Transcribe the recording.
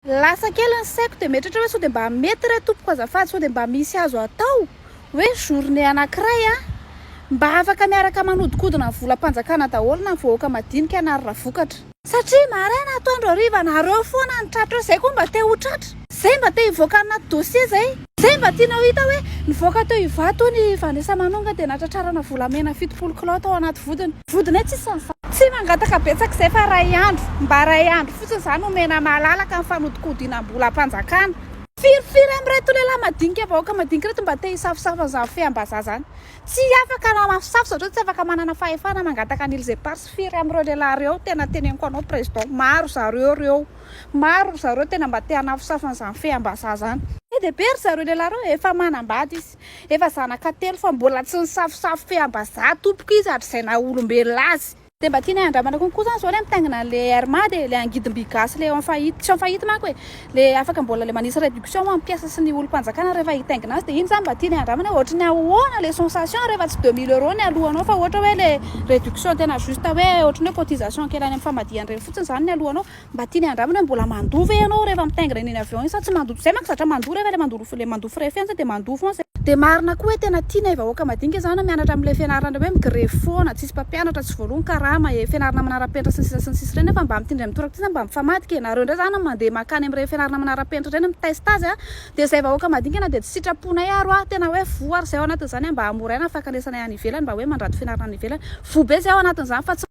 Lasa kely ny saiko dia mieritreritra hoe sao dia mba mety re tompoko azafady sao dia mba misy azo atao hoe journée anankiray a! mba afaka miaraka manodikodina ny volam-panjakana daholo na ny vahoaka madinika na ry ravokatra. Satria maraina, atoandro, hariva nareo foana no tratra eo, zay koa mba te ho tratra. Zay mba te hivoaka any anaty dossier zay. Zay mba tianao hita hoe nivoaka teo Ivato hono i Vanessa Manonga dia natratrarana volamena fitopolo kilao tao anaty vodiny. Vodinay tsisy ny fa. Tsy mangataka betsaka izay fa ray andro mba iray andro fotsiny izany omena malalaka ny fanodikodinam-bolam-panjakana. Firy firy amin'ireto lehilahy madinika vahoaka madinika ireto mba te hisafosafo an'izany feham-bazaha izany. Tsy afaka ny mamafosafo satria tsy afaka manana fahefana mangataka an'ily izay par sy firy amin'ireo lehilahy ireo tena teneniko anao président maro ry zareo ireo maro ry zareo tena mba te hanafosafo an'izany feham-bazaha izany. Be dia be ry zareo lehilahy ireo efa manambady izy. Efa zanaka telo fa mbola tsy nisafosafo feam-bazaha tompoko izy hatrizay naha olombelona azy. Dia mba tianay handramana kokoa izany izao ilay mitaingina an'ilay air mad e, ilay angidim-by gasy ilay en faillite, tsy en faillite manko e, ilay afaka mbola ilay manisy réduction ho an'ny mpiasa sy ny olom-panjakana rehefa hitaingina azy, dia iny izany mba tianay handramana hoe ohatry ny ahoana ilay sensation rehefa tsy deux mille euros ny alohanao fa ohatra hoe ilay réduction tena juste hoe ohatry ny hoe cotisation kely any amin'ny famadihan-dreny fotsiny izany ny alohanao. Mba tiany handramana hoe mbola mandoa ve ianao rehefa mitaingina iny eny avion iny sa tsy mandoa, zay manko zatra mandoa rehefa le mandoa le mandoa frais fianatra de mandoa foana zay. Dia marina koa hoe tena tiana e vahoaka madinika zany a mianatra amin'ilay fianarana le hoe migrevy foana, tsisy mpampianatra, tsy voaloany karama e, fianarana manarapenitra sy ny sisa sy ny sisa ireny nefa mba amin'ity indray mitoraka ity zany mba mifamadika e, nareo indray zany mandeha makany amin'ireny fianarana manarapenitra ireny miteste azy a, dia zay vahoaka madinika na dia tsy sitraponay ary hoa tena hoe voa ary zay ao anatin'izany a mba hamoraina ny fankanesanay any ivelany mba hoe mandrato fianarana any ivelany, voa be zay ao anatin'izany fa tsy